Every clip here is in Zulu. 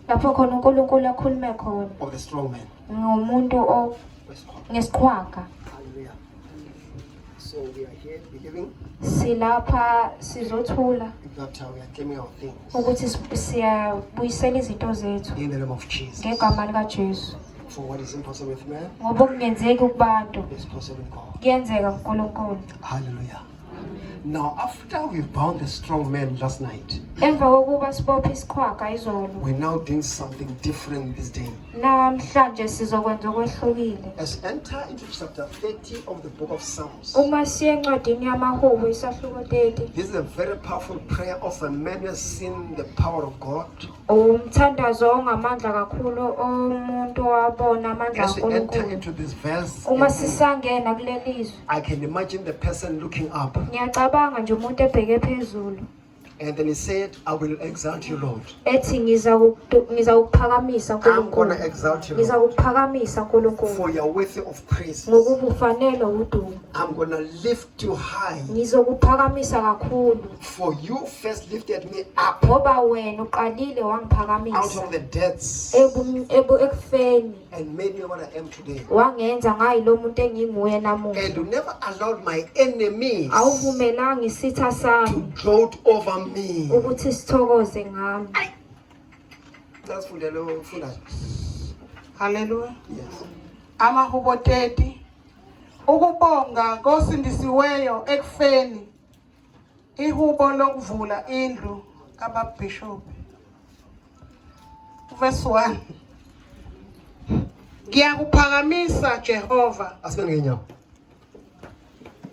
lapho khona uNkulunkulu akhulume khona of the strong man. ngomuntu o- Wesikhwama. ngesiqhwaga Hallelujah. So we are here believing silapha sizothula that uh, we are claiming our things ukuthi si- siyabuyisela izinto zethu in the name of Jesus. ngegama likajesu For what is impossible with man ngoba okungenzeki kubantu is possible with God. kuyenzeka kunkulunkulu Hallelujah. Now, after we bound the strong man last night, emva kokuba sibophe isiqhwaga izolo we're now doing something different this day. namhlanje sizokwenza okwehlukile As we enter into chapter 30 of the book of Psalms, uma siye encwadini yamahubo isahluko 30 this is a very powerful prayer of a man who has seen the power of God. Umthandazo ongamandla kakhulu omuntu wabona amandla As we enter kaNkulunkulu. into this verse, Uma sisangena kuleli izwi, I can imagine the person looking up ngiyacabanga nje umuntu ebheke phezulu and then he said, I will exalt you, Lord. ethi ngiza kukudu- ngiza kukuphakamisa I'm going Nkulunkulu. to exalt you, Ngiza Lord, kukuphakamisa Nkulunkulu for your worthy of praise. ngokuba ufanelwe udumo. I'm going to lift too high. Ngizokuphakamisa kakhulu. For you first lifted me up. Ngoba wena uqalile wangiphakamisa. Out of the depths. Ebu ebu ekufeni. And made me what I am today. Wangenza ngayi lo muntu enginguye namuhla. And you never allowed my enemies. Awuvumelanga isitha sami. To gloat over me. Ukuthi sithokoze ngami. That's for the Lord. Hallelujah. Yes. Amahubo 30 Ukubonga kosindisiweyo ekufeni ihubo lokuvula indlu kababhishobhi. Verse 1. Ngiyakuphakamisa Jehova. Asibenge nyawo.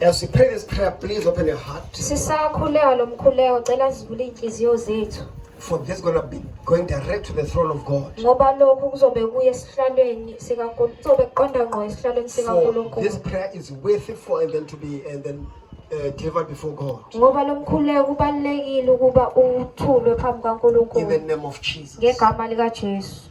As we pray this prayer, please open your heart. Sisakhuleka lo mkhuleko cela zivule izinhliziyo zethu For this is going to be going direct to the throne of God. ngoba lokhu kuzobe kuye esihlalweni sikaNkulunkulu kuzobe kuqonda ngqo esihlalweni For this sikaNkulunkulu prayer is worthy for and then to be and then uh, delivered before God. ngoba lo mkhuleko kubalulekile ukuba uthulwe phambi In the kaNkulunkulu name of Jesus. ngegama likaJesu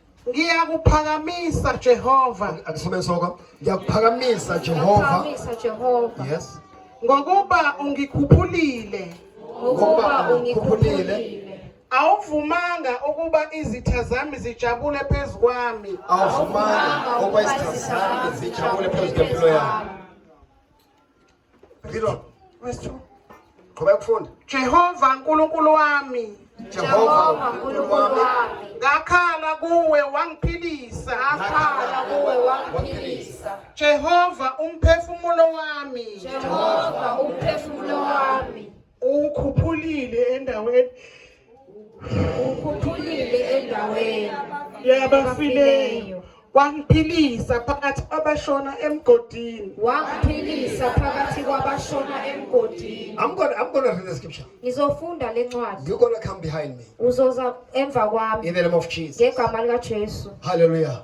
Ngiyakuphakamisa Jehova. Akusome soko. Ngiyakuphakamisa Jehova. Ngiyakuphakamisa Jehova. Yes. Ngokuba ungikhuphulile. Ngokuba ungikhuphulile. Awuvumanga ukuba izitha zami zijabule phezu kwami. Awuvumanga ukuba izitha zami zijabule phezu kwempilo yami. Read on. Verse 2. Qhubeka ukufunda. Jehova Nkulunkulu wami Jehova uNkulunkulu wami ngakhala kuwe wangiphilisa ngakhala kuwe wangiphilisa Jehova umphefumulo wami Jehova umphefumulo wami ukhuphulile endaweni ukhuphulile endaweni yabafileyo wangiphilisa phakathi kwabashona emgodini wangiphilisa phakathi kwabashona emgodini I'm gonna, I'm gonna read the scripture. ngizofunda le ncwadi You're gonna come behind me uzoza emva kwami in the name of Jesus. ngegama likajesu Hallelujah.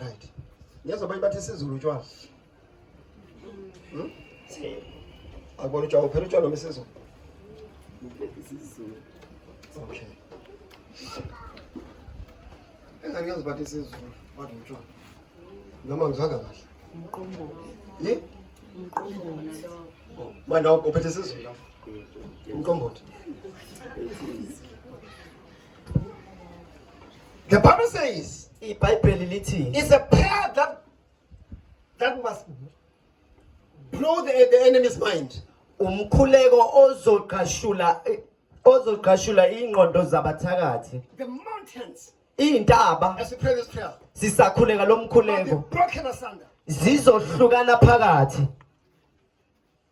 Right. Ngiyazwa abanye bathi isiZulu utshwala. Hmm? Akubona utshwala uphela utshwala noma isiZulu? IsiZulu. Okay. Engani ngiyazwa bathi isiZulu bathi utshwala. Noma ngizwanga kahle. Umqombola. Yi? Umqombola lo. Oh, manje uphethe isiZulu lapho. Umqombothi. The Bible says ibhayibheli lithi it's a prayer that that must blow the, the enemy's mind. umkhuleko ozogqashula ozogqashula ingqondo zabathakathi The mountains, iy'ntaba as we pray this prayer, sisakhuleka lo will be mkhuleko broken asunder. zizohlukana phakathi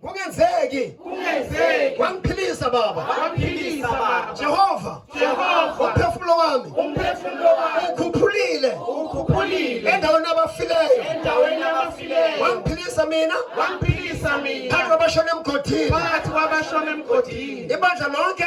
kungenzeki kungenzeki wangiphilisa baba wangiphilisa baba Jehova Jehova umphefumulo wami umphefumulo wami ukhuphulile ukhuphulile endaweni abafileyo endaweni abafileyo wangiphilisa mina wangiphilisa mina phakathi kwabashona emgodini phakathi kwabashona emgodini ibandla lonke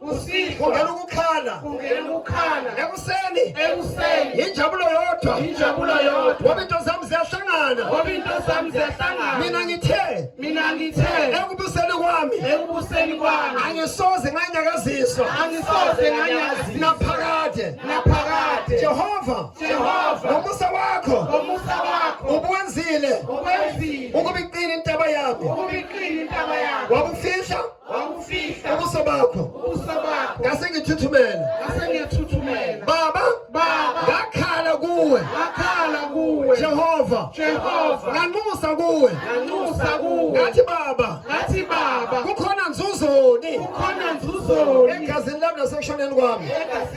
kusihlwa kungena ukukhala kungena ukukhala ekuseni ekuseni injabulo yodwa injabulo yodwa ngoba into zami ziyahlangana ngoba into zami ziyahlangana mina ngithe mina ngithe ekubuseni kwami ekubuseni kwami angisoze nganyakaziswa angisoze nganyakaziswa naphakade naphakade Jehova Jehova ngomusa wakho ngomusa wakho ubuwenzile ubuwenzile ukubiqina intaba yami ukubiqina intaba yami wabufihla ubuso bakho ngase ngithuthumela baba ngakhala kuwe jehova nganxusa kuwe ngathi baba kukhona nzuzoni egazini lami nasekushoneni kwami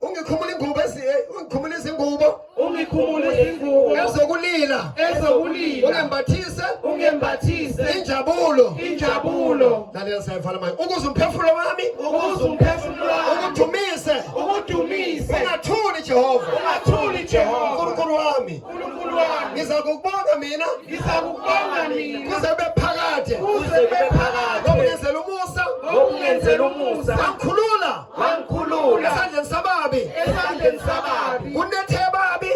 ungikhumula ingubo ungikhumula izingubo ungikhumula izingubo ezokulila ezokulila ungembathise ungembathise injabulo injabulo lalela sayivala manje ukuze umphefumulo wami ukuze umphefumulo wami ukudumise ukudumise ungathuli Jehova ungathuli Jehova uNkulunkulu wami uNkulunkulu wami ngizakubonga mina ngizakubonga mina kuze kube phakade kuze kube phakade ngokungenzela umusa ngokungenzela umusa wangikhulula esandleni sababi esandleni sababi kunethe babi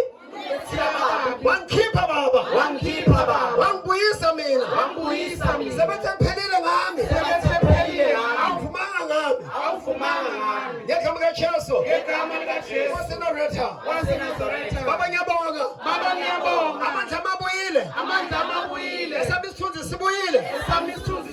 wangikhipha baba wangikhipha baba wangibuyisa mina wangibuyisa mina sebethe kuphelile ngami sebethe kuphelile ngami awuvumanga ngami awuvumanga ngami ngegama likaJesu ngegama likaJesu waseNazaretha waseNazaretha baba ngiyabonga baba ngiyabonga amandla amabuyile amandla amabuyile esami isithunzi sibuyile esami isithunzi